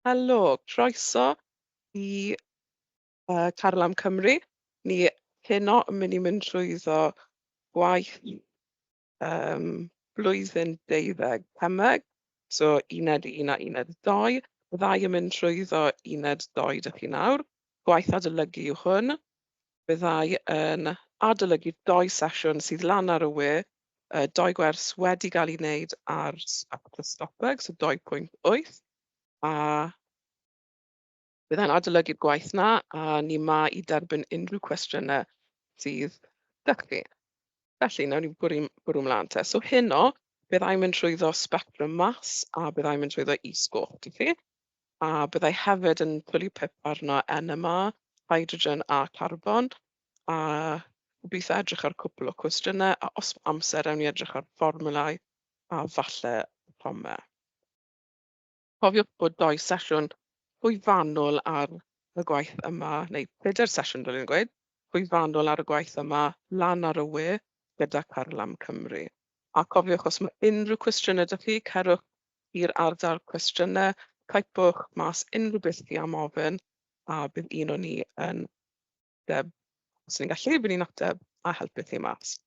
Helo, croeso i yy Caryl am Cymru. Ni heno yn mynd i mynd trwyddo gwaith yym blwyddyn deuddeg pumdeg, so uned un a uned dou. Y ddau yn mynd trwyddo uned dou dych chi nawr. Gwaith adolygu yw hwn. Byddai yn adolygu dou sesiwn sydd lan ar y we yy dou gwers wedi gael eu wneud ar s- at y Stopbug, so dou pwynt wyth, a byddai'n adolygu'r gwaith 'na, a ni 'ma i derbyn unrhyw cwestiynau sydd 'da chi. Felly, wnawn ni bwrw bwrw mlaen te. So heno, byddai mynd trwyddo sbectrwm mas a byddai mynd trwyddo is-goch i chi, a byddai hefyd yn twlu pip arno NMR, hydrogen a carbon, a gobeithio edrych ar cwpl o cwestiynau a os ma' amser ewn ni edrych ar fformiwlau a falle promau. Cofiwch bod dou sesiwn hwy fanwl ar y gwaith yma, neu pedair sesiwn fel yn gweud, hwy fanwl ar y gwaith yma lan ar y we gyda Carlam Cymru. A cofiwch os mae unrhyw cwestiynau dych chi, cerwch i'r ardal cwestiynau, typwch mas unrhyw beth chi am ofyn a bydd un o ni yn ateb os ni'n gallu, ry'n ni'n ateb a helpu chi mas.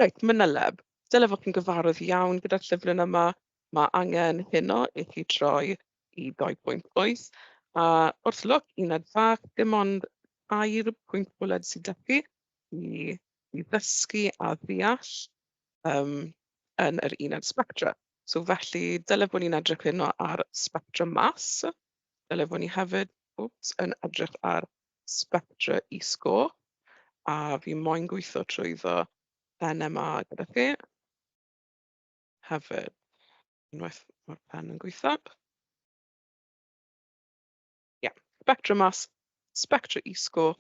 Reit, Myneleb, dyle fod chi'n gyfarwydd iawn gyda'r llyfryn yma. Mae angen heno i chi troi i 2.8 a wrth lwc uned fach, dim ond tair pwynt bwled sydd 'da chi i i ddysgu a ddeall yym yn yr uned sbectra. So felly, dyle bod ni'n edrych heno ar sbectra math, dyle bod ni hefyd, wps, yn edrych ar Spectra E-score a fi moyn gweithio trwyddo NMA gyda chi hefyd. Unwaith mae'r pen yn gweithio. Ie, Spectra Mass, Spectra E-score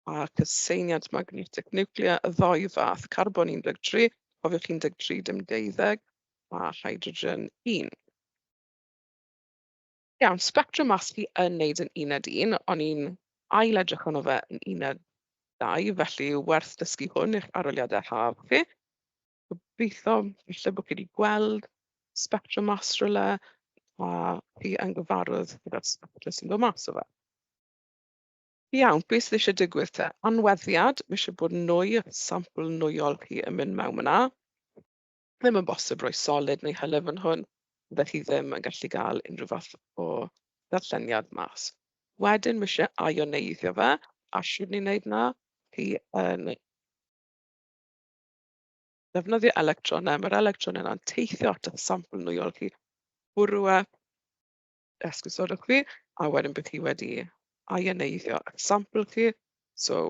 a cyseiniad magnetic nuclear, y ddou fath, carbon 13, cofiwch 13 dim deuddeg, a hydrogen 1. Iawn, sbectrwm maths fi yn wneud yn uned un, o'n i'n ail-edrych arno fe yn uned dau, felly werth dysgu hwn i'ch arholiadau haf chi. Gobeithio falle bod chi 'di gweld sbectrwm maths rywle, a chi yn gyfarwydd gyda'r sbectrwm sy'n dod mas o fe. Iawn, beth sydd eisiau digwydd te? Anweddiad, mae eisiau bod nwy, sampl nwyol chi yn mynd mewn yna. Ddim yn bosib rhoi solid neu hylif yn hwn, fyddech chi ddim yn gallu cael unrhyw fath o ddarlleniad mas. Wedyn ma' isie aioneiddio fe, a shwd ni'n wneud 'na? Chi yn defnyddio electronnau, ma'r electronnau 'na'n teithio at eich sampl nwyon chi, bwrw e, esgusodwch fi, a wedyn bydd chi wedi aioneiddio eich sampl chi. So...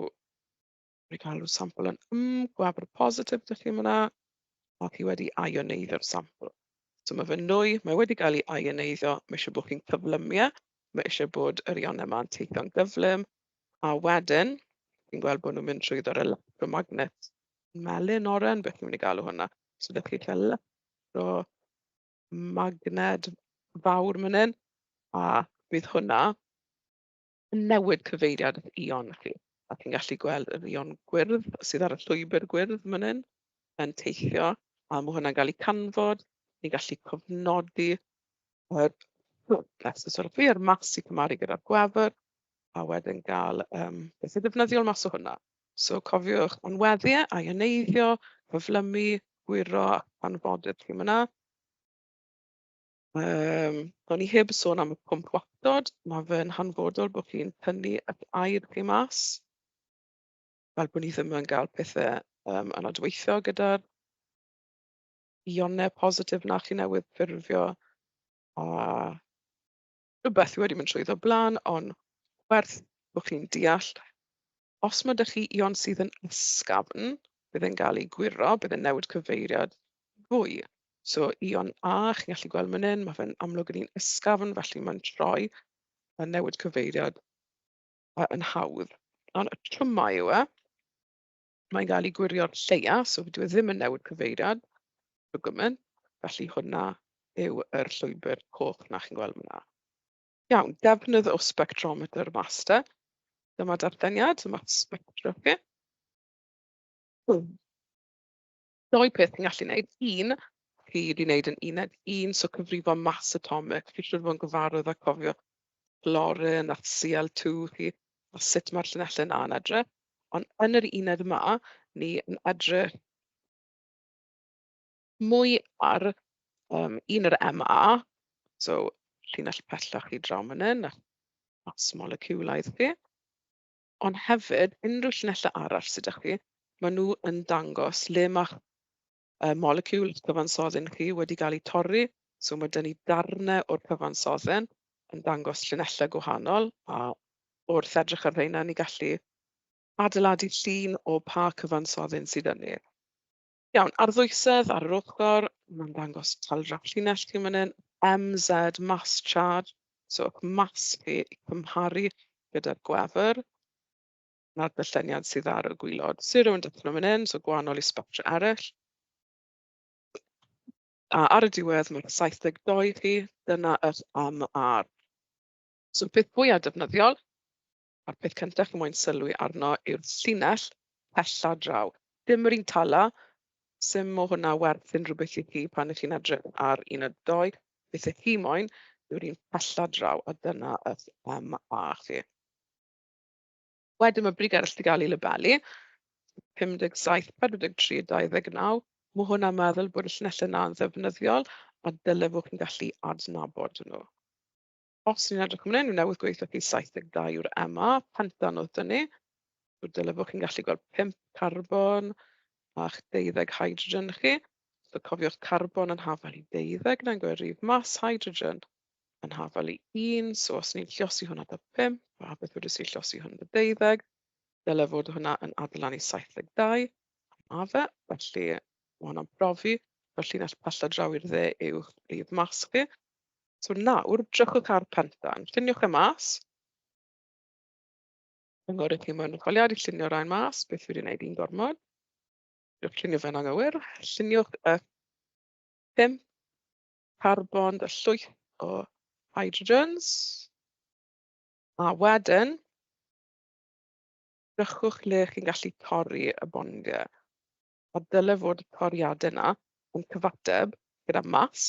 Wna i gael rhyw sampl yn mm gwabr positif dach chi yn fan'na. Mae hi wedi aioneiddio'r sampl. So mae fe'n nwy, mae wedi cael ei aioneiddio. Mae eisiau bod chi'n cyflymu e. Mae eisiau bod yr ionau yma'n teithio'n gyflym. A wedyn, chi'n gweld bod nhw'n mynd trwyddo'r electromagnet melyn oren, beth ni'n mynd i galw hwnna. So dych chi'n cael electromagned fawr man hyn, a bydd hwnna newid cyfeiriad eich Ion chi. A chi'n gallu gweld yr Ion gwyrdd sydd ar y llwybr gwyrdd yn fan hyn yn teithio, a ma' hwnna'n gael ei canfod. Ni'n gallu cofnodi yr yr math sy'n cymharu gyda'r gwefr, a wedyn gael yym beth sy'n ddefnyddiol mas o hwnna. So cofiwch anweddu, ioneiddio, cyflymu, gwyro, anfoneb chi fan'na. Yym, o'n i heb sôn am y pwmp wactod. Mae fe'n hanfodol bod chi'n tynnu eich aer chi mas, fel bod ni ddim yn gael pethe yym anadweithio gyda'r ïonau positif 'na chi newydd ffurfio a... rywbeth wedi mynd trwyddo o'r blaen, ond werth bod chi'n deall, os ma' 'da chi ion sydd yn ysgafn, bydd e'n gael ei gwyro, bydd e'n newid cyfeiriad fwy. So ion A, chi'n gallu gweld man hyn, ma' fe'n amlwg yn un ysgafn, felly mae'n troi a newid cyfeiriad yy yn hawdd. Ond y twymau yw e. mae'n gael ei gwirio'n lleia, so dyw e ddim yn newid cyfeiriad o gwmwl. Felly hwnna yw yr llwybr coch 'na chi'n gweld fan'na. Iawn, defnydd o spectrometer master. Dyma darlleniad, dyma spectra chi. Dou peth ti'n gallu wneud, un ti 'di wneud yn uned un, so cyfrifo mass atomic, fi'n siŵr o fod yn gyfarwydd â cofio clorun a Cl2 chi a sut mae'r llinellau 'na yn edrych. Ond yn yr uned yma, ni yn edrych mwy ar yym un yr MA, so llinell pellach i draw man hyn, a'ch mass moleciwlaidd chi. Ond hefyd, unrhyw llinellau arall sy 'da chi, maen nhw yn dangos le mae'ch yy moleciwl cyfansodden chi wedi cael eu torri. So ma' 'da ni darnau o'r cyfansodden yn dangos llinellau gwahanol, a wrth edrych ar rheina, ni'n gallu adeiladu llun o pa cyfansodden sydd 'da ni. Iawn, a'r ddwysedd ar yr ochr, mae'n dangos talu dros llinell chi fan hyn, MZ mass charge, so eich mass chi i cymharu gyda'r gwefr. 'na'r byllyniad sydd ar y gwaelod. Zero yn dechrau fan hyn, so gwahanol i Spectra eraill. A ar y diwedd, mae'r saithdeg dou chi, dyna yr MR. So peth fwya defnyddiol, A'r peth cyntaf chi'n moyn sylwi arno yw'r llinell pella draw. Dim yr un tala, sim o hwnna werth unrhyw beth i chi pan ych chi'n edrych ar un a dou. Beth ych chi moyn yw'r un pella draw, a dyna ych MA chi. Wedyn mae brig arall 'di gael ei labelu, 57, 43 a 29. Mae hwnna'n meddwl bod y llinellau yna yn ddefnyddiol a dyle fod chi'n gallu adnabod nhw. Os ni'n edrych fan hyn, dwi newydd gweud wrthi 72 yw'r MA. Pendant oedd 'da ni. So dyle fod chi'n gallu gweld pump carbon a'ch deuddeg hydrogen chi. So cofiwch carbon yn hafal i deuddeg nag o'i rif mas hydrogen yn hafal i un. So os ni'n llosi hwnna 'da pump, a beth wedys i llosi hwn 'da deuddeg, dyle fod hwnna yn adeiladu 72 am A fe. Felly ma' hwnna'n profi bod llinell pell a draw i'r dde yw'ch rif mas chi. So nawr, drychwch ar Penthan. Lluniwch e mas. Cynghorydd chi mewn etholiad i llunio rhain mas, beth wedi wneud i'n gormod. Lluniwch llunio fe'n anghywir. Lluniwch y pum carbon, y llwyth o hydrogens. A wedyn, drychwch le chi'n gallu torri y bondiau. A dyle fod y toriadau yna yn cyfateb gyda mas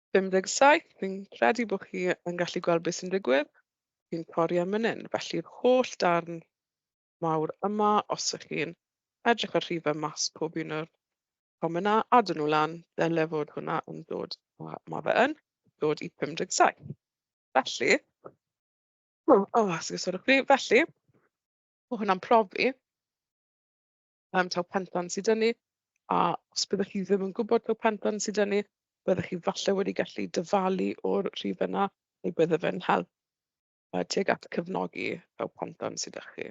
57, fi'n credu bod chi yn gallu gweld beth sy'n digwydd. Fi'n torri am mynnyn, felly'r holl darn mawr yma, os ych chi'n edrych ar rhifau mas pob un o'r promenau, a dyn nhw lan, dyle fod hwnna yn dod, a mae fe yn, dod i 57. Felly, o, oh, oh, sgysodwch chi, felly, mae hwnna'n profi yym taw Pentland sy 'da ni, a os byddech chi ddim yn gwybod taw Pentland sy 'da ni, byddech chi falle wedi gallu dyfalu o'r rhifau 'na, neu bydde fe'n help yy tuag at cefnogi taw Pentland sy 'da chi.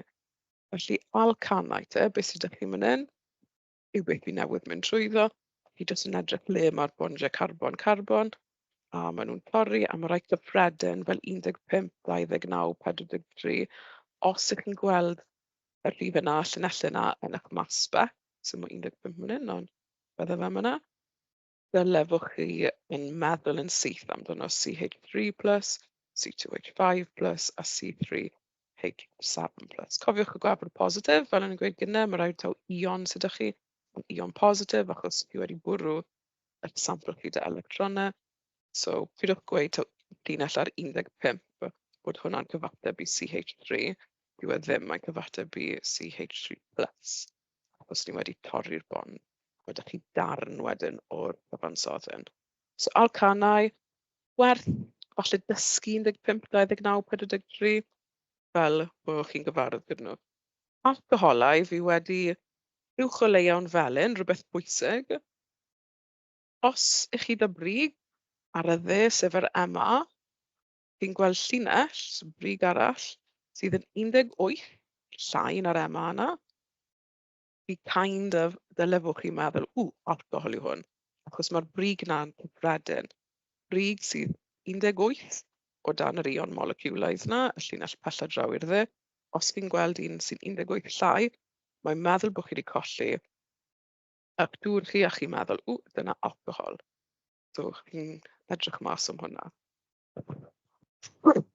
Felly Alcanau te, be sy 'da chi man hyn, yw beth fi newydd mynd trwyddo. Chi jyst yn edrych le ma'r bondiau carbon carbon, a maen nhw'n torri, a ma' rai cyffredin fel un deg pump, dau ddeg naw, pedwar deg tri os 'y chi'n gweld... y rhif yna, y llinellau yna yn eich masbach, so ma' 15 fan hyn, ond bydde fe fan'na. Dyle fo' chi yn meddwl yn syth amdano CH3 plus, C2H5 plus a C3H7 plus. Cofiwch y gwefr positif, fel o'n i'n gweud gynnau, mae rhaid taw ion sydd â chi, yn ion positif, achos chi wedi bwrw y sampl chi da electronau. So, pidwch gweud taw llinell ar 15 bod hwnna'n cyfateb i CH3. Dyw e ddim, mae'n cyfateb i CH3 plus os ni wedi torri'r bôn, a dach chi darn wedyn o'r cyfansoddi hyn. So alcanau, werth falle dysgu 15, 29, 43, fel bod chi'n gyfarwydd gyda nhw. Alcoholau, fi wedi uwch o leiawn felyn, rhywbeth bwysig. Os ych chi da brig, ar y dde, sef yr MA, Fi'n gweld llinell sy'n brig arall sydd yn 18 llai na'r MA 'na. Fi kind of... dyle fod chi'n meddwl "w alcohol yw hwn" achos ma'r brig 'na'n gyffredin. Brig sydd 18 o dan yr ion moleciwlaidd 'na, y llinell pell a draw i'r dde. Os chi'n gweld un sy'n 18 llai, mae'n meddwl bod chi wedi colli eich dŵr chi a chi'n meddwl "w dyna alcohol". So chi'n edrych mas am hwnna.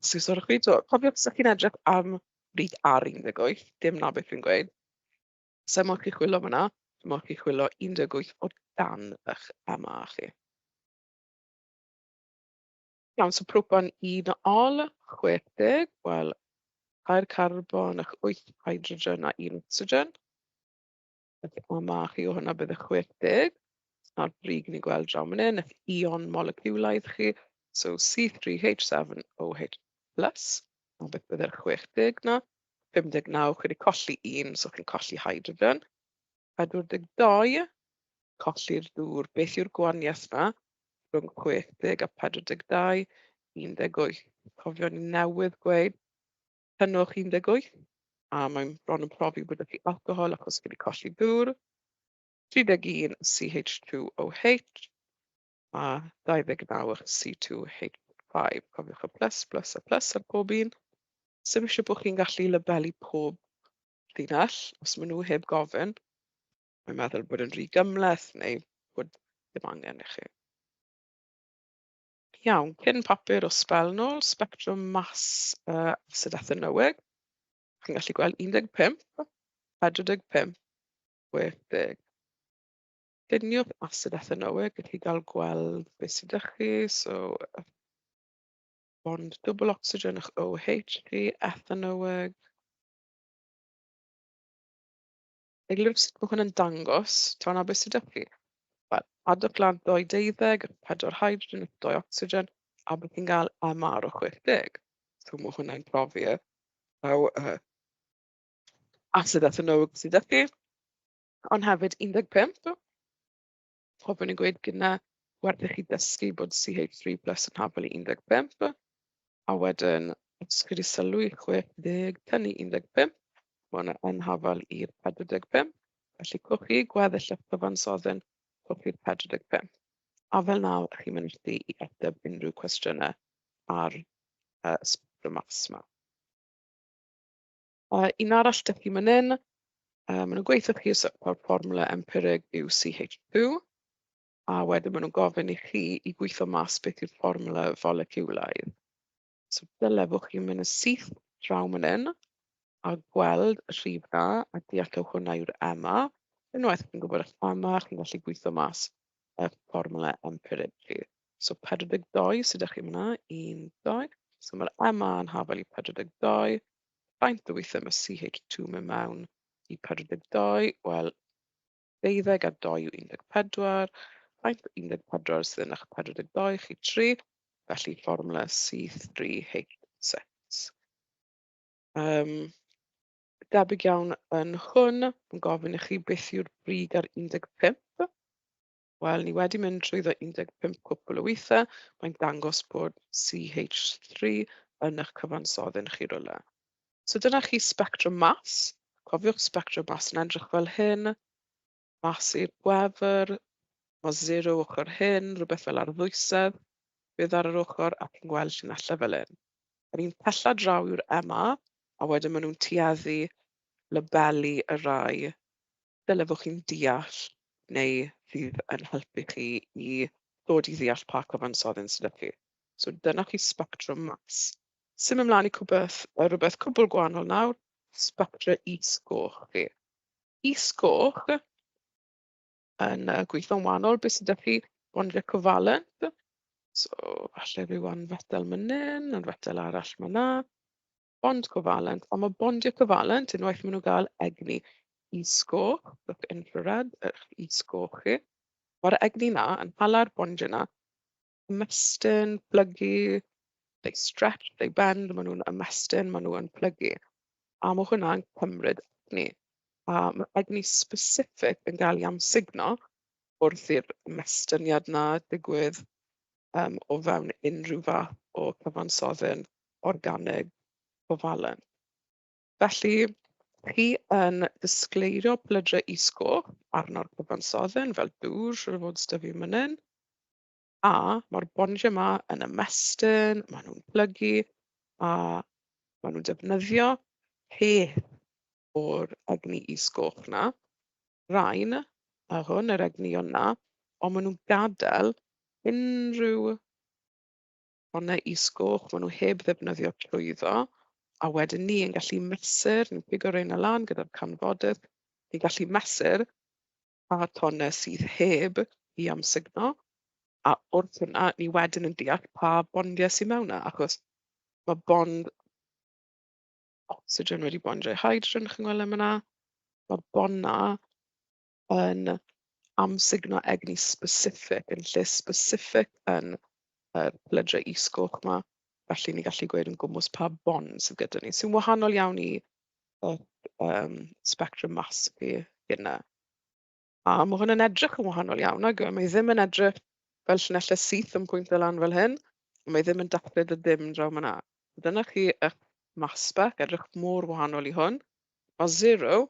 So os ydych chi timod... cofiwch os ydych chi'n edrych am read ar un deg wyth, dim 'na beth dwi'n gweud. Sa i'n modd chi chwilio fan'na, ma' modd chi chwilio un deg wyth o dan y'ch MA chi. Iawn so propan un ol chwech deg, wel tair carbon ac wyth hydrogen a un ocsigen. Felly o 'ma chi o hwnna bydd y chwech deg. A'r brig ni'n gweld draw man hyn, eich ion moleciwlaidd chi, so C three H seven O H plus, a beth bydd yr chwech deg 'na? Pump deg naw, chi wedi colli un, so chi'n colli hydrogen. Pedwar deg dau, colli'r dŵr. Beth yw'r gwahaniaeth 'na rhwng chwech deg a pedwar deg dau? Un deg wyth. Cofio ni newydd gweud cynnwch 18, a mae'n bron yn profi bod 'da chi alcohol achos chi wedi colli dŵr, 31 CH2OH a 29 o'ch C2H5. Cofiwch y plus, plus a plus ar bob un. Sym eisiau bod chi'n gallu labelu pob llinell, os maen nhw heb gofyn. Mae'n meddwl bod yn rhy gymleth neu bod ddim angen i chi. Iawn, cyn papur o sbel nôl, sbectrwm mas yy Asid Athernyweg. Chi'n gallu gweld 15, 45, 60. Lluniwch Asid Athernyweg, gallwch chi gael gweld be sy 'da chi. So yy bond dwbl ocsigen o'ch OH chi, Athernyweg. Eglurwch sut mae hwn yn dangos tan aberth sydd 'da chi. Wel, adwch lan dou deuddeg, pedwar hydrogen, dou ocsigen, a bydd chi'n cael MR o 60. So mae hwnna'n profi y rhaw uh, asid athenowig sydd 'da chi, ond hefyd 15. Fel o'n i'n gweud gynne, werth i chi ddysgu bod CH3 plus yn hafal i un deg pump, a wedyn os chi 'di sylwi, chwech deg tan i un deg pump, ma' hwnna yn hafal i'r pedwar deg pump. Felly cewch chi gweddill eich cyfansoddion, cewch chi'r pedwar deg pump. A fel 'na chi'n mynegi i ateb unrhyw cwestiynau ar yy y sbectrwm math 'ma. A un arall 'da chi man hyn, yy maen nhw'n gweutho chi sut fath o'r fformwla empirig yw CH2, a wedyn maen nhw'n gofyn i chi i gweithio mas beth yw'r fformwla foleciwlaidd. So dylefwch chi mynd yn syth draw man hyn a gweld y rhif 'na a deallwch hwnna yw'r MA. Unwaith chi'n gwybod eich MA, chi'n gallu gweithio mas y fformwla empirig chi. So 42 sy 'da chi fan'na, 1, 2. So mae'r MA yn hafel i 42. Faint o weithiau mae CH2 yn mynd mewn i pedwar deg dau? Wel, deuddeg a dou yw un deg pedwar. Faint o un deg pedwar sydd yn eich pedwar deg dou chi? Tri. Felly fformwla C3H6. Um, debyg iawn yn hwn, yn gofyn i chi beth yw'r brig ar 15. Wel, ni wedi mynd trwyddo un deg pump cwpwl o weithiau, mae'n dangos bod CH three yn eich cyfansoddyn chi rywle. So dyna chi sbectrwm mas. Cofiwch sbectrwm mas yn edrych fel hyn. Mas i'r gwefr. Mae zero ochr hyn, rhywbeth fel ar ddwysedd. Bydd ar yr ochr ac yn gweld llinellau fel hyn. Yr un pella draw yw'r MA, a wedyn maen nhw'n tueddu labelu y rai dyle fod chi'n deall neu fydd yn helpu chi i ddod i ddeall pa cyfansoddyn sydd 'da chi. So dyna chi sbectrwm maths. Symud mlaen i cwbeth, yy rywbeth cwbl gwahanol nawr, sbectra is-goch chi. Is-goch yn yy gweithio'n wahanol, be sy 'da chi? Bondiau covalent, so falle ryw anfetel man hyn, anfetel arall man 'na. bond covalent, ond ma' bondiau covalent, unwaith maen nhw'n gael egni is-goch, look infrared, eich is-goch chi, mae'r egni 'na yn hala'r bondiau 'na i ymestyn, plygu, they stretch, they bend, maen nhw'n ymestyn, maen nhw'n plygu. A ma' hwnna'n cymryd egni. A ma' egni specific yn gael ei amsugno wrth i'r ymostyngiad 'na digwydd yym o fewn unrhyw fath o cyfansoddyn. organig covalent. Felly chi yn disgleirio plydrau is-goch arno'r cyfansodden fel dŵr, siŵr o fod sydd 'da fi fan hyn. A mae'r bondiau yma yn ymestyn, maen nhw'n plygu a maen nhw'n defnyddio peth o'r egni is-goch 'na. Rain a hwn, yr egnïon 'na, ond maen nhw'n gadael unrhyw O na is goch, maen nhw heb ddefnyddio llwyddo. A wedyn ni yn gallu mesur, ni'n pigo reina lan gyda'r canfodydd, ni'n gallu mesur pa tonnau sydd heb i amsugno, a wrth hwnna ni wedyn yn deall pa bondiau sydd mewn yna, achos mae bond ocsigen wedi bondio i hydrogen, chi'n gweld e fan'na, mae'r bonnau yn amsugno egni specific yn lle specific yn yr plydre is-goch 'ma, felly ni'n gallu gweud yn gwmws pa bond sydd gyda ni, sy'n wahanol iawn i y yym sbectrwm mas i hynna. A ma' hwn yn edrych yn wahanol iawn nag yw e? Mae ddim yn edrych fel llinellau syth yn pwyntio lan fel hyn, mae ddim yn dathlu dy ddim draw man 'na. Dyna chi eich mass spec, edrych mor wahanol i hwn. Ma' zero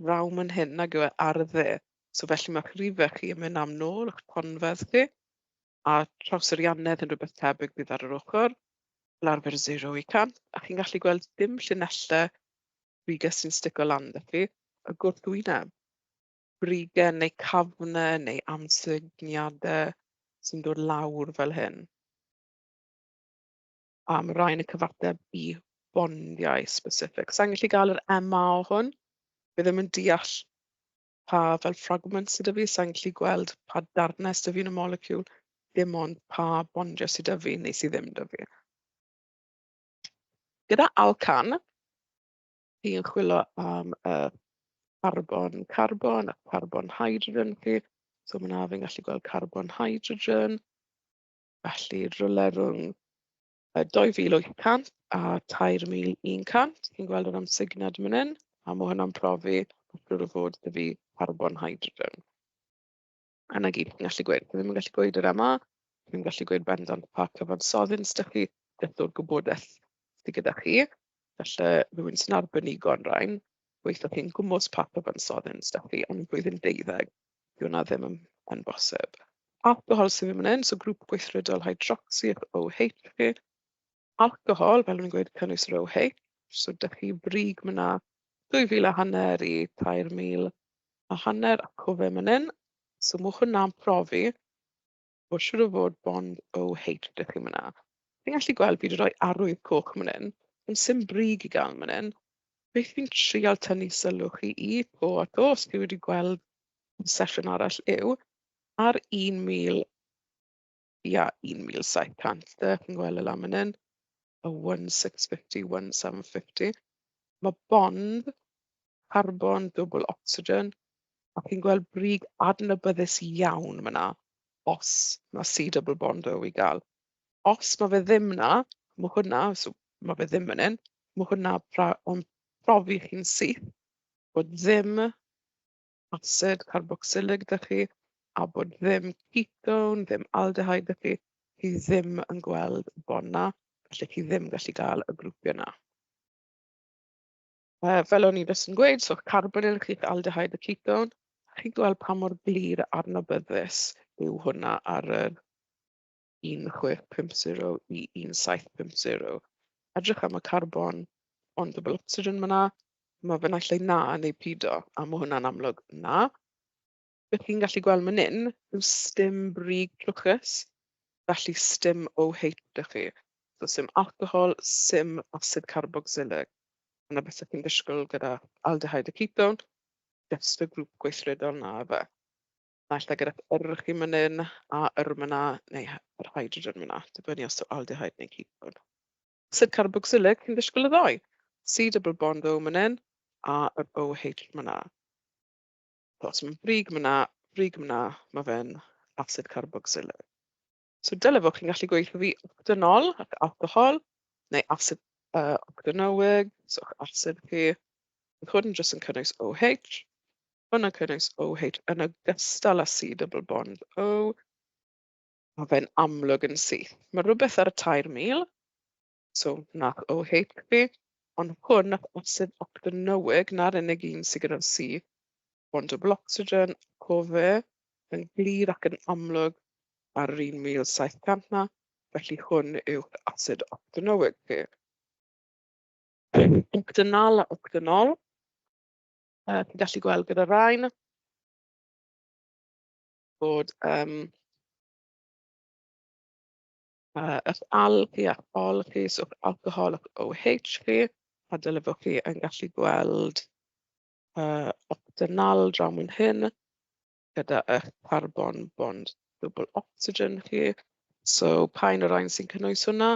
raw man hyn nag yw e ar y dde. So felly mae'ch rhifau chi yn mynd am nôl, eich ponfedd chi, a trawserianedd yn rhywbeth tebyg bydd ar yr ochr, fel arfer 0 i 100, a chi'n gallu gweld dim llinellau brigau sy'n stico lan da chi, y gwrthwyneb, brigau neu cafnau neu amsugniadau sy'n dod lawr fel hyn. A ma' rain yn cyfateb i fondiau specific. Sa i'n gallu gael yr MA o hwn. Fi ddim yn deall pa fel fragments sy 'da fi. Sa i'n gallu gweld pa darnau sy 'da fi yn y moleciwl, dim ond pa bondiau sy 'da fi neu sy ddim 'da fi. Gyda Alcan, chi'n chwilio am y carbon carbon a carbon hydrogen chi. So fan'na fi'n gallu gweld carbon hydrogen. Felly rywle rhwng yy dou fil wyth cant a tair mil un cant, chi'n gweld o ran signed man hyn, a ma' hwnna'n profi mae'n siŵr o fod 'da fi carbon hydrogen. A 'na gyd fi'n gallu gweud. Fi ddim yn gallu gweud yr MA, fi ddim yn gallu gweud bendant pa cyfansoddyn sy 'da chi, beth yw'r gwybodaeth sy gyda chi. Falle rywun sy'n arbenigo yn rain, gweithio chi'n gwmws pa cyfansoddyn sy 'da chi yn y flwyddyn deuddeg. Dyw hwnna ddim yn yn bosib. Alcohol sydd ddim yn un, so grŵp gweithredol hydrocsi yw'ch OH chi. Alcohol, fel o'n i'n gweud, cynnwys yr OH, so dych chi brig mna 2,000 a hanner i 3,000 a hanner a cofem yn un. So mwch hwnna'n profi. Wel siŵr o fod Bond OH ydych chi fan'na. Fi'n gallu gweld fi 'di rhoi arwydd coch yn fan hyn, ond sim brig i gael yn fan hyn. Beth fi'n trial tynnu sylw chi i to a to, os chi wedi gweld y sesiwn arall yw, ar 1000, ia 1700 de, chi'n gweld y lamunin, y 1650, 1750, ma' bond carbon dwbwl ocsigen A chi'n gweld brig adnabyddus iawn fan'na, os ma' see double bond o i gael. Os ma' fe ddim 'na, ma' hwnna... so ma' fe ddim fan hyn, ma' hwnna pra- o'n profi chi'n syth bod ddim acid carbocsyllig 'da chi, a bod ddim ketone, ddim aldehyde 'da chi, chi ddim yn gweld y bond 'na, felly chi ddim yn gallu gael y grwpiau 'na. Yy fel o'n i jyst yn gweud, so carbonyl, aldehyde a ketone. Chi'n gweld pa mor glir a adnabyddus yw hwnna ar yr un chwech pump zero i un saith pump zero. Edrych am y carbon ond double ocsigen fan'na, ma' fe naill ai 'na neu pido, a ma' hwnna'n amlwg 'na. Be chi'n gallu gweld man hyn yw sdim brig trwchus, felly sdim OH 'da chi. So sdim alcohol, sdim asid carboxylig. Dyna beth ydych chi'n disgwyl gyda aldehyde a ketone, jyst y grŵp gweithredol 'na efe. Naill ai gyda yr chi man hyn a yr ma' 'na neu hy- yr hydrogen ma' 'na, dibynnu os yw aldehyde neu ketone. Asid carboxylig, chi'n disgwyl y ddou. C double bond O man hyn a yr OH ma' 'na. O timod brig ma' 'na brig ma' 'na ma' fe'n acid carboxylic. So dyle fod chi'n gallu gweud wrtho fi octanol ac alcohol neu acid yy octanoic so eich acid chi. Roedd hwn jyst yn cynnwys OH. Hwn yn cynnwys OH yn ogystal â C double bond O. Ma' fe'n amlwg yn syth. Ma' rywbeth ar y tair mil. So wnaeth OH fi, ond hwn wnaeth acid octanöig, 'na'r unig un sy gyda'r C. Bond double ocsigen, co fe, yn glir ac yn amlwg ar yr 1700 'na, felly hwn yw'ch acid octanöig chi. Octanal a octanol, yy chi'n gallu gweld gyda'r rain bod yym... Yy eich alg chi a'ch ol chi, so eich alcohol a'ch OH chi, a dyle fod chi yn gallu gweld yy octynol draw fan hyn gyda eich carbon bond double ocsigen chi. So pa un o'r rain sy'n cynnwys hwnna?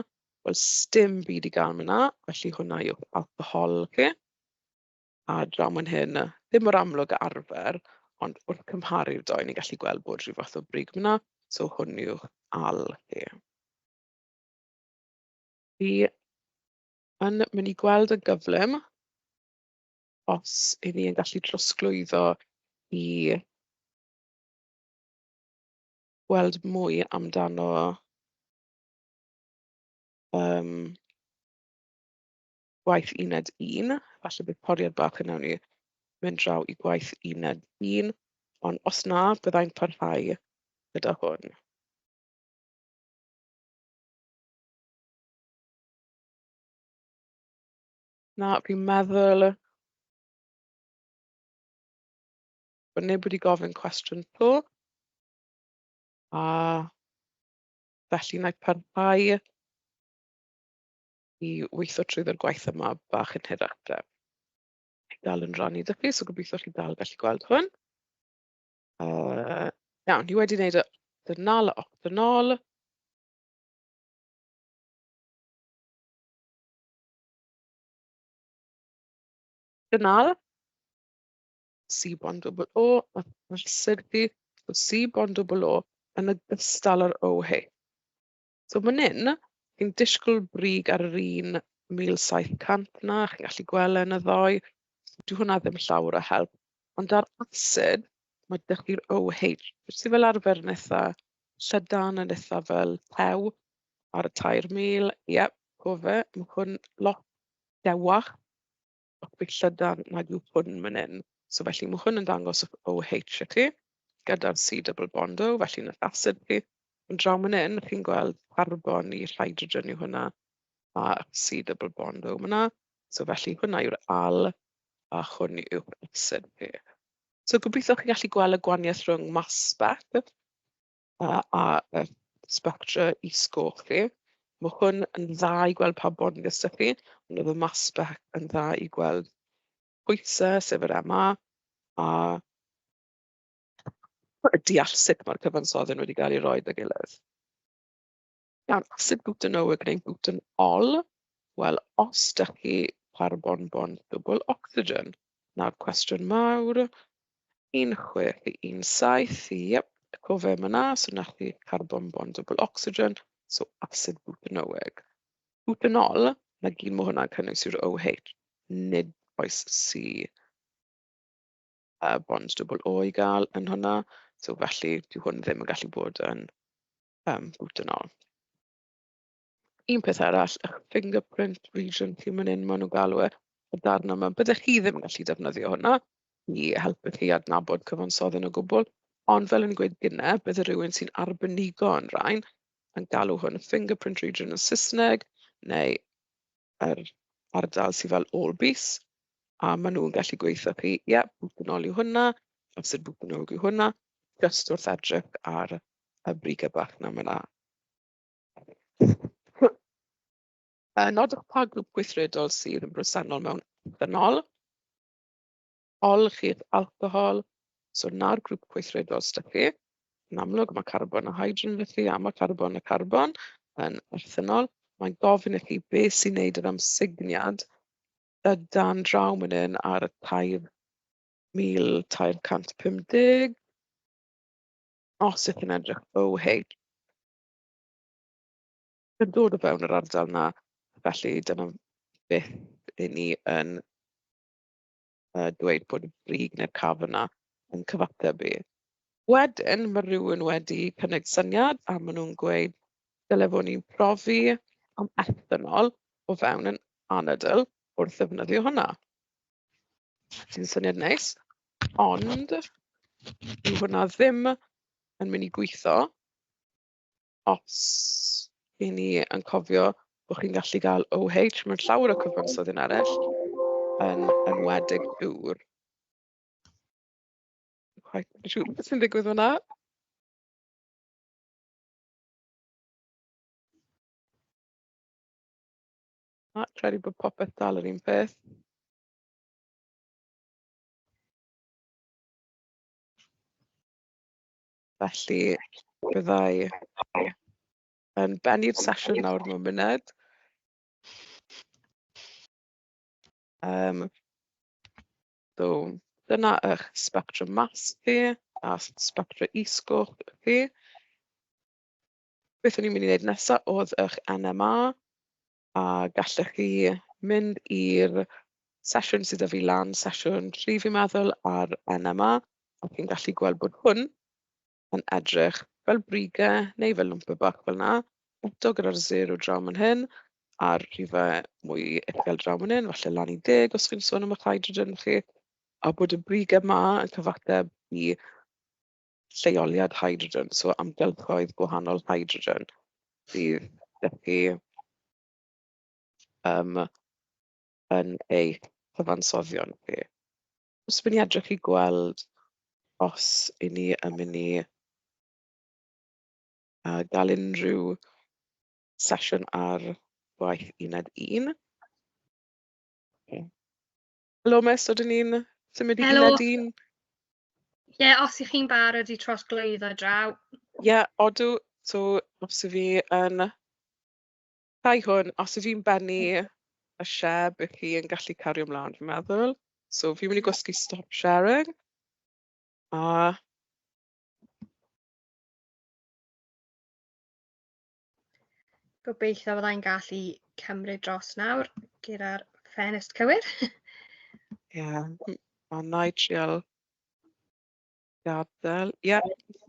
Wel sdim byd i gael fan'na, felly hwnna yw'ch alcohol chi. a draw man hyn, ddim mor amlwg â arfer, ond wrth cymharu'r ddou ni'n gallu gweld bod rhyw fath o brig fan'na, so hwn yw Al e. Fi yn mynd i gweld yn gyflym os 'y ni yn gallu trosglwyddo i weld mwy amdano yym gwaith uned un, falle bydd poriad bach yn wnewn ni mynd draw i gwaith uned un, ond os na, bydda i'n parhau gyda hwn. Na, fi'n meddwl bod neb wedi gofyn cwestiwn to. A felly wna i parhau i weithio trwyddo'r gwaith yma bach yn hirach de. Dwi dal yn rannu 'da chi, so gobeithio chi dal yn gallu gweld hwn. Yy iawn, dwi wedi wneud y dynol a octynol. Dynol. C bond double O, a ma'r syrthi o C bond double O yn ogystal â'r OH. So man hyn, chi'n disgwyl brig ar yr un mil saith cant 'na, chi'n gallu gweld e yn y ddoe. Dyw hwnna ddim llawr o help. Ond ar acid, ma' 'da chi'r OH, which sy fel arfer yn itha llydan, yn itha fel tew ar y tair mil. Ie, co fe, ma' hwn lot dewach. Bach mwy llydan nag yw hwn man hyn. So felly ma' hwn yn dangos yr OH i chi, gyda'r C double bond O, felly yn yr asid chi. Ond draw man hyn, chi'n gweld carbon i'r hydrogen yw hwnna, a C double bond O man 'na. So felly hwnna yw'r al, a hwn yw'r asid chi. So gobeithio chi'n gallu gweld y gwahaniaeth rhwng mass spec yy a yy sbectrau is-goch chi. Ma' hwn yn dda i gweld pa bonys 'da chi, ond oedd y mass spec yn dda i gweld pwysau, sef yr MA, a a deall sut mae'r cyfansoddyn wedi cael ei roi 'da ei gilydd. Nawr, sut bwyta nhw? Ydyn ni'n bwyta'n ol? Wel, os dach chi ar bonbon dwbwl ocsigen, 'na'r cwestiwn mawr. Un chwech i un saith, iep, co fe ma'na, so 'na chi carbon bond dwbwl ocsigen, so asid bwtanoweg. Bwtanol, 'na gyd ma' hwnna'n cynnwys yw'r OH, nid oes C yy bond dwbwl O i gael yn hwnna, so felly dyw hwn ddim yn gallu bod yn Yym boot yn ol. Un peth arall ych fingerprint region chi fan hyn, maen nhw'n galw e, y darn yma. Byddech chi ddim yn gallu defnyddio hwnna i helpu chi adnabod cyfansoddyn o gwbl, ond fel o'n i'n gweud gynne, byddai rywun sy'n arbenigo yn rhain yn galw hwn yn fingerprint region yn Saesneg, neu yr ardal sydd fel all beast, a maen nhw'n gallu gweithio chi, ie, boot yn ol yw hwnna, os yw'r boot yn ol yw hwnna, jyst wrth edrych ar y brigau bach 'na fan'na . Yy nodwch pa grŵp gweithredol sydd yn bresennol mewn ethanol, olchi eich alcohol, so 'na'r grŵp gweithredol sy' 'da chi. Yn amlwg ma' carbon a hydrogen felly a ma' carbon a carbon yn ethanol. Mae'n gofyn i chi be sy'n wneud yr amsugniad yy dan draw man hyn ar y tair mil tair cant pump deg. Os ydych chi'n edrych OH, yn dod o fewn yr ardal 'na, felly dyna beth 'y ni yn yy dweud bod y brig neu'r caf yna yn cyfathrebu. Wedyn ma' rywun wedi cynnig syniad a ma' nhw'n gweud dyle fo' ni'n profi am ethanol o fewn yn anadl wrth ddefnyddio hwnna. Sy'n syniad neis, ond dyw hwnna ddim yn mynd i gweithio os 'y ni yn cofio bod chi'n gallu gael OH mewn llawer o cyfansoddyn arall, yn enwedig dŵr. Dwi'm cweit yn siŵr beth sy'n digwydd fan'na. Na, credu bod popeth dal yr un peth. Felly, bydda i yn bennu'r sesiwn nawr mewn munud. Um, so, dyna eich spectrum mas chi a spectrum isgoch chi. Beth o'n i'n mynd i ddeud nesa oedd eich NMA a gallech chi mynd i'r sesiwn sydd 'da fi lan, sesiwn tri fi'n meddwl ar NMA, a chi'n gallu gweld bod hwn yn edrych fel brigau neu fel lwmpy bach fel 'na, eto gyda'r sêr o draw man hyn a'r rhifau mwy uchel draw man hyn, falle lan i deg os chi'n sôn am eich hydrogen chi, a bod y brigau 'ma yn cyfateb i... lleoliad hydrogen, so amgylchoedd gwahanol hydrogen fydd da chi yym yn eich cyfansoddion chi. Os dwi'n edrych i gweld os i ni yn mynd i yy gael unrhyw sesiwn ar gwaith uned un. Helo Miss, ydyn ni'n symud i Helo. Ie, yeah, os ych chi'n barod i trosglwyddo draw. Ie, yeah, odw. So, os ydw fi yn... Rhai hwn, os ydw i'n bennu y share, bydd chi yn gallu cario ymlaen, fi'n meddwl. So, fi'n mynd i gwasgu stop sharing. A... Gobeithio fydda i'n gallu cymryd dros nawr gyda'r ffenest cywir. Ie, yeah. a na i trial gadael. Ie. Yeah.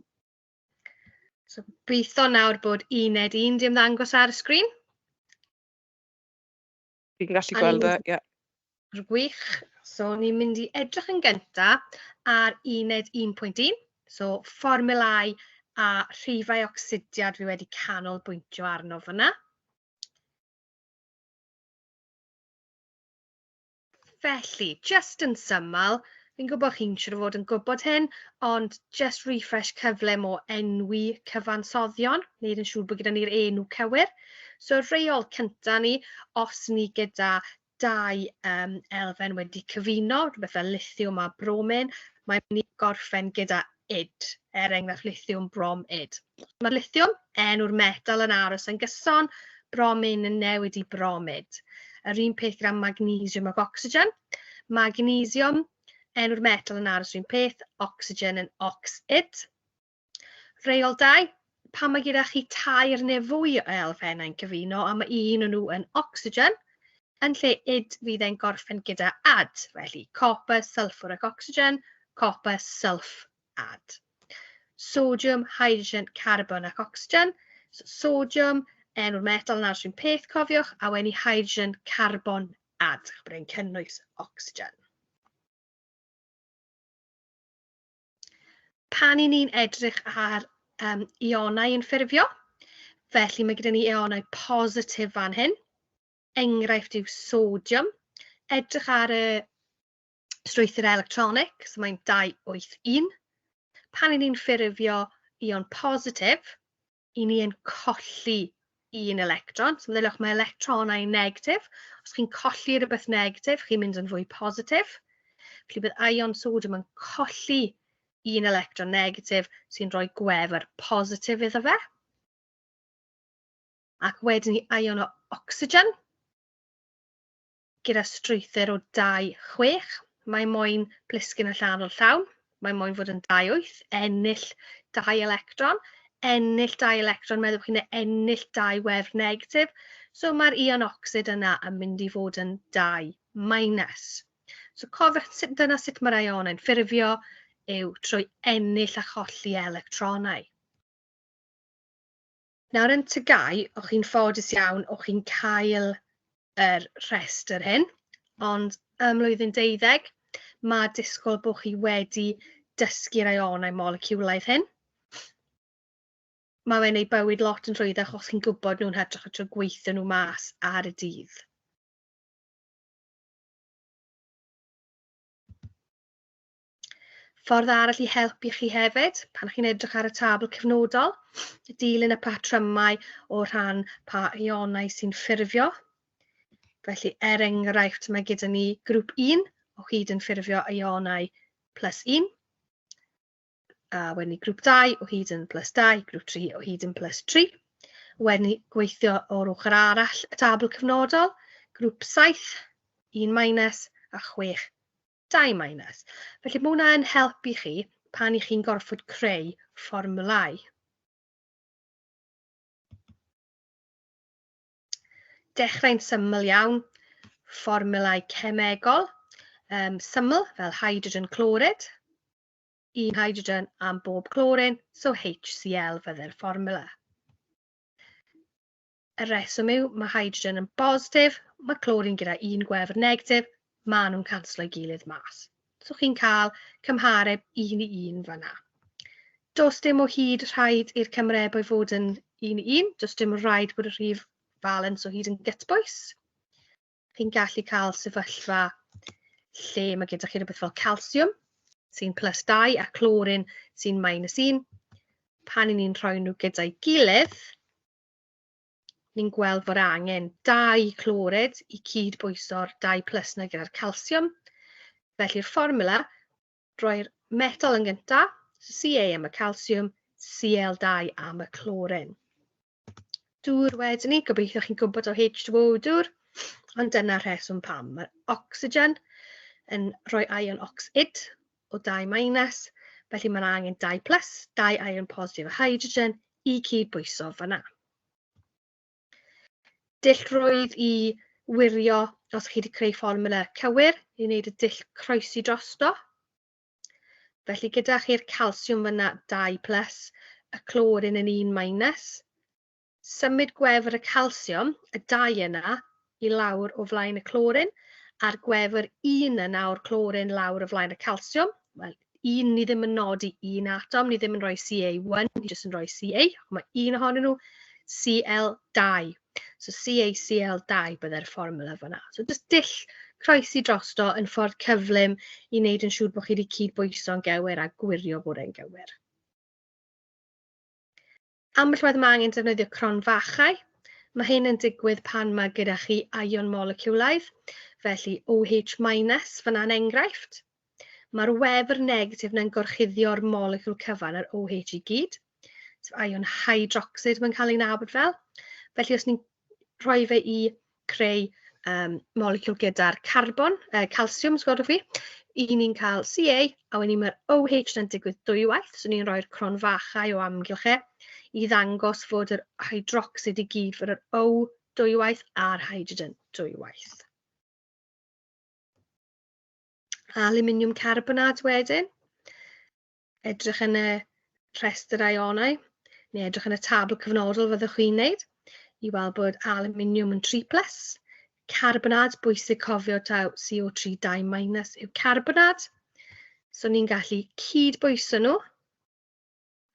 So gobeithio nawr bod uned un di ymddangos ar y sgrin. Fi'n gallu gweld e, ie. Gwych. So, ni'n mynd i edrych yn gynta ar uned 1.1, so fformulau a rhifau ocsidiad fi wedi canolbwyntio arno fyna. Felly, just yn syml, Fi'n gwybod chi'n siŵr o fod yn gwybod hyn, ond just refresh cyflym o enwi cyfansoddion, wneud yn siŵr bod gyda ni'r enw cywir. So reol cyntaf ni, os ni gyda dau um, elfen wedi cyfuno, rhywbeth fel lithium a bromin, mae'n mynd i gorffen gyda id, er enghraifft lithiwm, brom, id. Mae'r lithiwm, enw'r metal yn aros yn gyson, bromin yn newid i bromid. Yr un peth gyda magnesiwm ac ocsigen. Magnesiwm, enw'r metal yn aros yr un peth, ocsigen yn oxid. Reol 2, pan mae gyda chi tair neu fwy o elfennau'n cyfuno a mae un o nhw yn ocsigen, yn lle id fydd e'n gorffen gyda ad, felly copper, sulfur ac ocsigen, copper, sulf, ad. Sodium, hydrogen, carbon ac ocsigen. So, sodium, enw'r metal yn aros peth, cofiwch, a wedyn i hydrogen, carbon, ad, bod e'n cynnwys ocsigen. Pan i ni'n edrych ar um, ionau yn ffurfio, felly mae gyda ni ionau positif fan hyn. Enghraifft yw sodium. Edrych ar y strwythur electronig, so mae'n 281. Pan i ni'n ffurfio ion positif, i ni yn colli un electron. So meddyliwch, mae electronau negatif. Os chi'n colli rhywbeth negatif, chi'n mynd yn fwy positif. Felly bydd ion sodium yn colli un electron negatif sy'n rhoi gwefr positif iddo fe. Ac wedyn i ion o ocsigen. Gyda strwythur o 2-6, mae moyn plisgyn a llanw llawn, mae moyn fod yn 2-8, ennill 2 electron, ennill 2 electron, meddwch chi, neu ennill 2 wefr negatif, so mae'r ion ocsid yna yn mynd i fod yn 2 minus. So cofiwch, dyna sut mae'r ionau'n ffurfio, yw trwy ennill a cholli electronau. Nawr yn Tŷ Gau, o'ch chi'n ffodus iawn, o'ch chi'n cael yr rhestr hyn, ond ym mlwyddyn deuddeg, mae disgwyl bod chi wedi dysgu'r ionau moleciwlaidd hyn. Mae fe'n ei bywyd lot yn rhwyddach os chi'n gwybod nhw'n hytrach na trwy gweithio nhw mas ar y dydd. Ffordd arall i helpu chi hefyd, pan chi'n edrych ar y tabl cyfnodol, dilyn y patrymau o rhan pa ionau sy'n ffurfio. Felly, er enghraifft, mae gyda ni grŵp 1 o hyd yn ffurfio ionau plus 1, a wedyn ni grŵp 2 o hyd yn plus 2, grŵp 3 o hyd yn plus 3. Wedyn ni gweithio o'r ochr arall y tabl cyfnodol, grŵp 7, 1 minus a 6 dau minus. Felly mae hwnna yn help i chi pan i chi'n gorfod creu fformulau. Dechrau'n syml iawn, fformulau cemegol, um, syml fel hydrogen clorid, un hydrogen am bob clorin, so HCl fydde'r fformula. Y rheswm yw, mae hydrogen yn bositif, mae clorin gyda un gwefr negatif, maen nhw'n canslo'i gilydd mas. So chi'n cael cymhareb un i un fanna. Does dim o hyd rhaid i'r cymharebau fod yn un i un, does dim rhaid bod y rhif falens o hyd yn gytbwys. Chi'n gallu cael sefyllfa lle mae gyda chi rhywbeth fel calsiwm sy'n plus 2 a clorin sy'n minus 1. Pan i ni'n rhoi nhw gyda'i gilydd, ni'n gweld bod angen dau clorid i cyd-bwyso'r dau plus na gyda'r calsiwm. Felly'r fformula, roi'r metal yn gyntaf, Ca am y calsiwm, Cl2 am y clorin. Dŵr wedyn ni, gobeithio chi'n gwybod o H2O dŵr, ond dyna rheswm pam. Mae'r ocsigen yn rhoi ion ocsid, o dau minus, felly mae'n angen dau plus, dau iron positif o hydrogen i cyd-bwyso fanna. Dill rwydd i wirio os chi wedi creu fformula cywir i wneud y dill croesi drosto. Felly gyda chi'r calsiwm fyna dau plus, y clorin yn un minus, Symud gwefr y calsiwm, y dau yna, i lawr o flaen y clorin, a'r gwefr un yna o'r clorin lawr o flaen y calsiwm. Wel, un, ni ddim yn nodi un atom, ni ddim yn rhoi Ca1, ni jyst yn rhoi Ca, ac mae un ohonyn nhw Cl2. So CaCl2 byddai'r fformula fanna. So jyst dull croesi drosto yn ffordd cyflym i wneud yn siŵr bod chi wedi cyd-bwyso'n gywir a gwirio bod e'n gywir. Ambell waith mae angen defnyddio cronfachau. Mae hyn yn digwydd pan mae gyda chi ion moleciwlaidd, felly OH-, fyna'n enghraifft. Mae'r wefr negatif yna'n gorchuddio'r moleciwl cyfan, yr OH i gyd, sef ion hydrocsid mae'n cael ei nabod fel. Felly os ni'n rhoi fe i creu yym moleciwl gyda'r carbon, yy calsiwm os gwelwch chi, 'y ni'n cael Ca a wedyn ma'r OH 'na'n digwydd dwywaith, so ni'n rhoi'r cronfachau o amgylch e i ddangos fod yr hydrocsid i gyd, fod yr O dwywaith a'r hydrogen dwywaith. Alwminiwm carbonad wedyn. edrych yn y rhestr aionau, neu edrych yn y tabl cyfnodol fyddwch chi'n wneud, i weld bod aluminium yn 3 plus, carbonad, bwysig cofio taw CO3 2 minus yw carbonad, so ni'n gallu cyd-bwyso nhw,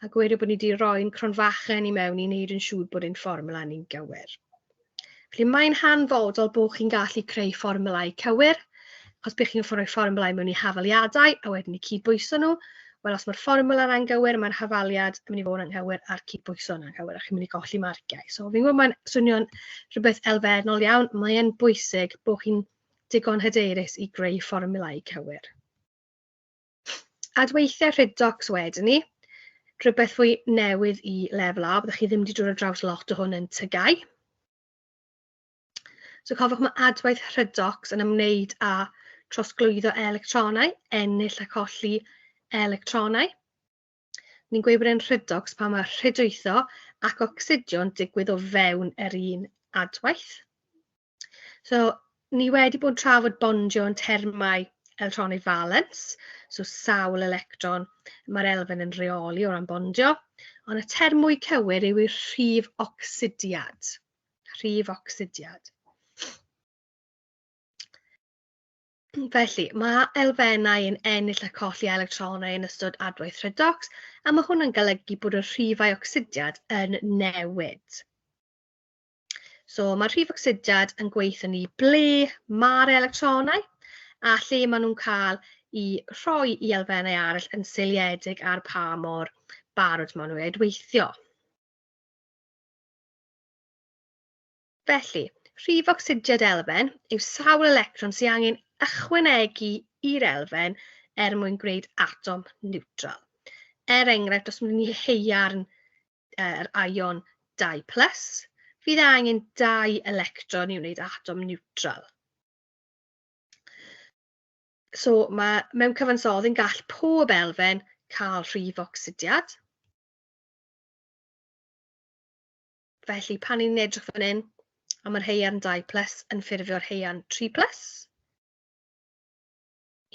a gweithio bod ni wedi rhoi'n cronfachen i mewn i wneud yn siŵr bod ein fformula ni'n gywir. Felly mae'n hanfodol bod chi'n gallu creu fformulau cywir, achos bydd chi'n rhoi fformulau mewn i hafaliadau a wedyn i cydbwyso nhw. Wel, os mae'r fformula yna'n gywir, mae'r hafaliad yn mynd i fod yn anghywir a'r cydbwyso yn anghywir a chi'n mynd i golli marciau. So fi'n gwybod mae'n swnio'n rhywbeth elfennol iawn, mae'n bwysig bod chi'n digon hyderus i greu fformulau cywir. Adweithiau rhyd docs wedyn ni, rhywbeth fwy newydd i lefel A, byddwch chi ddim wedi dod ar draws lot o hwn yn tygau. So cofiwch mae adwaith rhyd docs yn ymwneud â trosglwyddo electronau, ennill a colli electronau. Ni'n gweud bod e'n rhedocs pan mae rhedwytho ac ocsidio'n digwydd o fewn yr un adwaith. So, ni wedi bod yn trafod bondio yn termau electronic valence, so sawl electron mae'r elfen yn rheoli o ran bondio, ond y term mwy cywir yw i'r rhif ocsidiad. Rhif ocsidiad. Felly, mae elfennau yn ennill a colli electronau yn ystod adwaith redox, a mae hwn yn golygu bod y rhifau ocsidiad yn newid. So, mae'r rhif ocsidiad yn gweithio ni ble mae'r electronau a lle maen nhw'n cael i rhoi i elfennau arall yn seiliedig ar pa mor barod maen nhw i adweithio. Felly, rhif ocsidiad elfen yw sawl electron sy'n angen ychwanegu i'r elfen er mwyn gwneud atom niwtral. Er enghraifft, os mynd ni heiarn yr ion 2 plus, fydd e angen 2 electron i wneud atom niwtral. So mae mewn cyfansoddi yn gall pob elfen cael rhif ocsidiad. Felly, pan ni'n edrych fan hyn am yr heian 2 plus yn ffurfio'r heian 3 plus,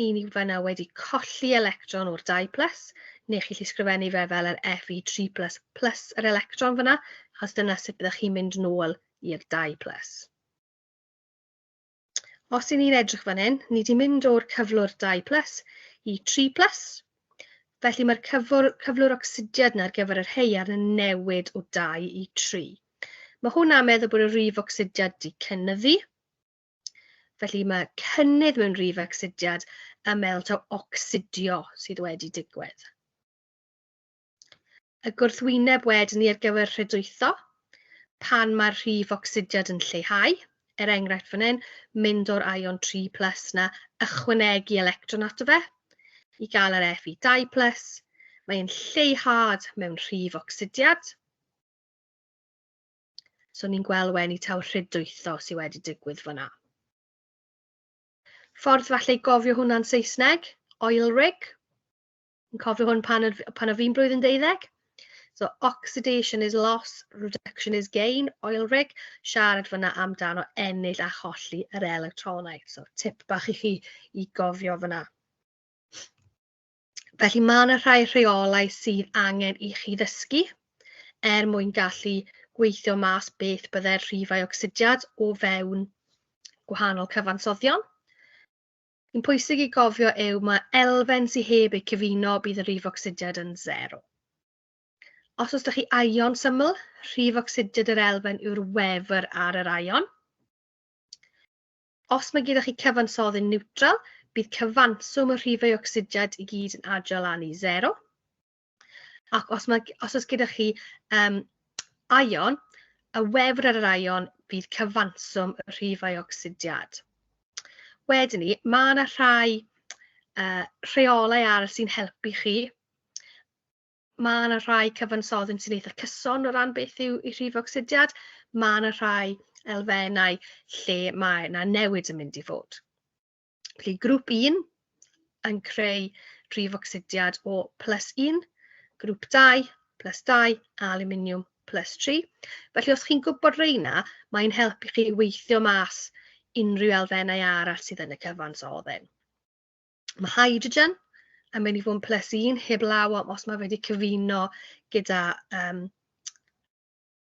i ni fanna wedi colli electron o'r 2 plus, neu chi'n sgrifennu fe fel yr Fe3 plus plus yr electron fyna, achos dyna sut byddwch chi'n mynd nôl i'r 2 plus. Os i ni'n edrych fan hyn, ni wedi mynd o'r cyflwr 2 plus i 3 plus, felly mae'r cyflwr, cyflwr ocsidiad yna ar gyfer yr heiarn yn newid o 2 i 3. Mae hwnna'n meddwl bod y rif ocsidiad di cynnyddu, Felly mae cynnydd mewn rif ocsidiad yn meddwl taw ocsidio sydd wedi digwydd. Y gwrthwyneb wedyn ni ar gyfer rhedwytho, pan mae'r rhif ocsidiad yn lleihau, er enghraifft fan hyn, mynd o'r ion 3 plus na, ychwanegu electron ato fe, i gael yr Fe2 plus, mae'n lleihad mewn rhif ocsidiad. So ni'n gweld wen i taw rhydwytho sydd wedi digwydd fyna. Ffordd falle i gofio hwnna'n Saesneg, oil rig. Yn cofio hwn pan, pan o fi'n blwyddyn deuddeg? So oxidation is loss, reduction is gain, oil rig. Siarad fyna amdano ennill a cholli yr electronau. So tip bach i chi i gofio fyna. Felly mae yna rhai rheolau sydd angen i chi ddysgu er mwyn gallu gweithio mas beth bydde'r rhifau ocsidiad o fewn gwahanol cyfansoddion. sy'n pwysig i gofio yw mae elfen sydd heb eu cyfuno bydd y rif ocsidiad yn sero. Os oes da chi aion syml, rhif ocsidiad yr elfen yw'r wefr ar yr aion. Os mae gyda chi cyfansoddi niwtral, bydd cyfanswm y rhifau ocsidiad i gyd yn adio lan i sero. Ac os, mae, os oes gyda chi um, aion, y wefr ar yr aion fydd cyfanswm y rhifau ocsidiad. Wedyn ni, mae yna rhai uh, rheolau arall sy'n helpu chi. Mae yna rhai cyfansoddyn sy'n eitha cyson o ran beth yw i rhif ocsidiad. Mae yna rhai elfennau lle mae yna newid yn mynd i fod. Felly, grŵp un yn creu rhif ocsidiad o plus un, grŵp dau, plus dau, a alwminiwm plus tri. Felly, os chi'n gwybod reina, mae'n helpu chi weithio mas unrhyw elfennau arall sydd yn y cyfans o oddyn. Mae hydrogen yn mynd i fod yn plus un, heb law os mae wedi cyfuno gyda um,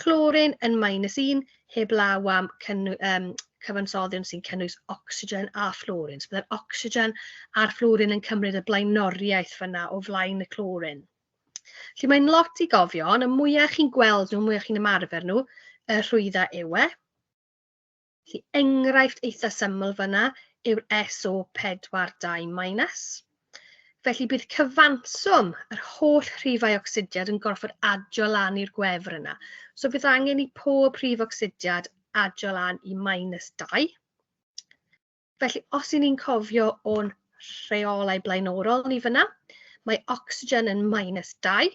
Clorin yn minus 1 heb law am cynnu, um, cyfansoddion sy'n cynnwys ocsigen a fflorin. So byddai'r ocsigen a'r fflorin yn cymryd y blaenoriaeth fyna o flaen y clorin. Felly mae'n lot i gofio, ond y mwyaf chi'n gweld nhw, mwyaf chi'n ymarfer nhw, y rhwydda yw e. Felly, enghraifft eitha syml fanna yw'r SO42 minus. Felly bydd cyfanswm yr holl rhifau ocsidiad yn gorfod adio lan i'r gwefr yna. So bydd angen i pob rhif ocsidiad adio lan i minus 2. Felly os y'n ni'n cofio o'n rheolau blaenorol ni fyna, mae ocsigen yn minus 2.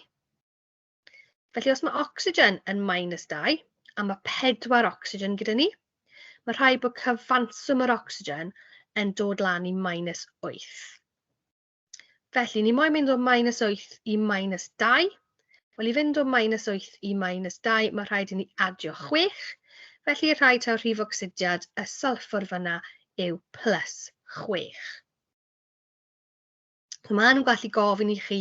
Felly os mae ocsigen yn minus 2, a mae 4 ocsigen gyda ni, mae rhaid bod cyfanswm yr ocsigen yn dod lan i minus 8. Felly, ni moyn mynd o minus 8 i minus 2. Wel, i fynd o minus 8 i minus 2, mae rhaid i ni adio 6. Felly, rhaid taw rhif ocsidiad y sulfur fyna yw plus 6. So maen nhw'n gallu gofyn i chi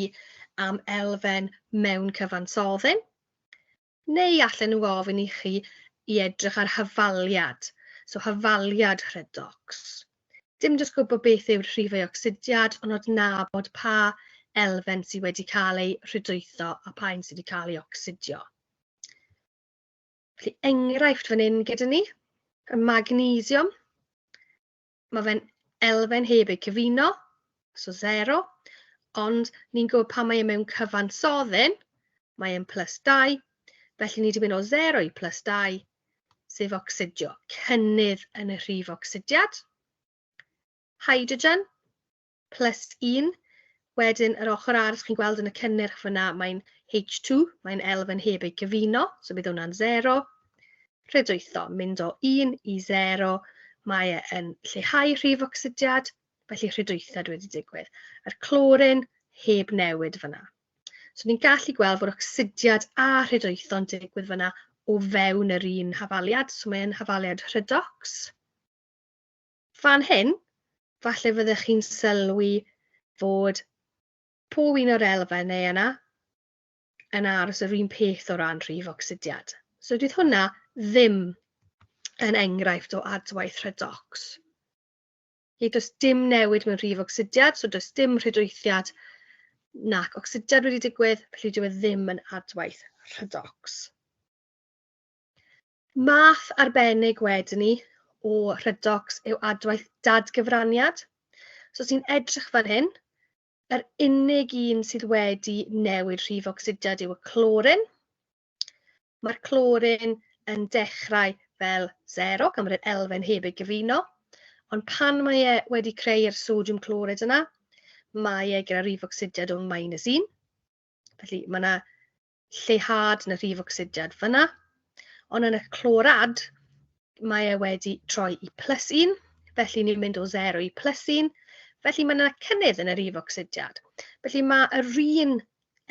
am elfen mewn cyfansoddyn, neu allan nhw ofyn i chi i edrych ar hyfaliad, so hyfaliad rhedox. Dim jyst gwybod beth yw'r rhifau ocsidiad, ond adnabod pa elfen sydd wedi cael ei rhydwytho a pa un sydd wedi cael ei ocsidio. Felly enghraifft fan hyn gyda ni, y magnesium. Mae fe'n elfen heb eu cyfuno, so zero, ond ni'n gwybod pan mae e mewn cyfansoddyn, mae e'n plus dau, felly ni 'di mynd o zero i plus dau, sef ocsidio, cynnydd yn y rhif ocsidiad. Hydrogen, plus un, wedyn yr ochr arall chi'n gweld yn y cynnyrch fyna mae'n H2, mae'n elfen heb ei gyfuno, so bydd hwnna'n 0. Rhedwytho, mynd o 1 i 0, mae e yn lleihau rhif ocsidiad, felly rhedwythad wedi digwydd. Yr clorin heb newid fyna. So ni'n gallu gweld fod ocsidiad a rhedwytho'n digwydd fyna o fewn yr un hafaliad, so mae'n hafaliad rhedox. Fan hyn, falle fyddech chi'n sylwi fod pob un o'r elfen neu yna yn aros yr un peth o ran rhif ocsidiad. So dydd hwnna ddim yn enghraifft o adwaith rhedox. Felly does dim newid mewn rhif ocsidiad, so does dim rhydweithiad nac ocsidiad wedi digwydd, felly dyw e ddim yn adwaith rhedox. Math arbennig wedyn ni o Rhydocs yw adwaith dadgyfraniad. So os ni'n edrych fan hyn, yr unig un sydd wedi newid rhif ocsidiad yw y clorin. Mae'r clorin yn dechrau fel 0, gan bod yr elfen heb ei gyfuno, ond pan mae e wedi creu'r sodiwm clorid yna, mae e gyda rhif ocsidiad o'n minus 1. Felly mae yna lleihad yn y rhif ocsidiad fan'na, ond yn y clorad mae e wedi troi i plus un, felly ni'n mynd o zero i plus un, felly mae yna cynnydd yn y rhif ocsidiad. Felly mae yr un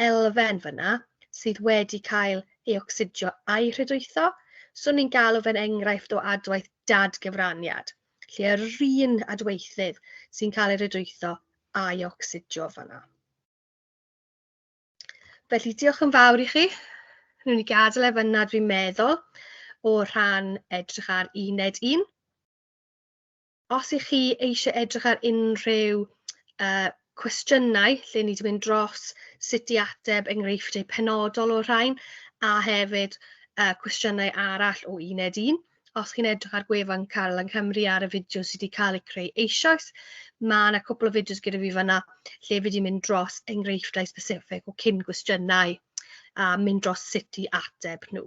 elfen fan'na sydd wedi cael ei ocsidio a'i rhydwytho, so ni'n galw fe'n enghraifft o adwaith dadgyfraniad, lle yr un adweithydd sy'n cael ei rhydwytho a'i ocsidio fan'na. Felly, diolch yn fawr i chi. Rwy'n i gadael ef yna, dwi'n meddwl, o rhan edrych ar uned un. Os ych chi eisiau edrych ar unrhyw uh, cwestiynau lle ni wedi mynd dros sut i ateb enghreifftiau penodol o'r rhain a hefyd uh, cwestiynau arall o uned un, os chi'n edrych ar gwefan Cael yng Nghymru ar y fideo sydd wedi cael ei creu eisoes, mae yna cwpl o fideos gyda fi fanna lle fi wedi mynd dros enghreifftiau specific o cyn gwestiynau a mynd dros sut i ateb nhw.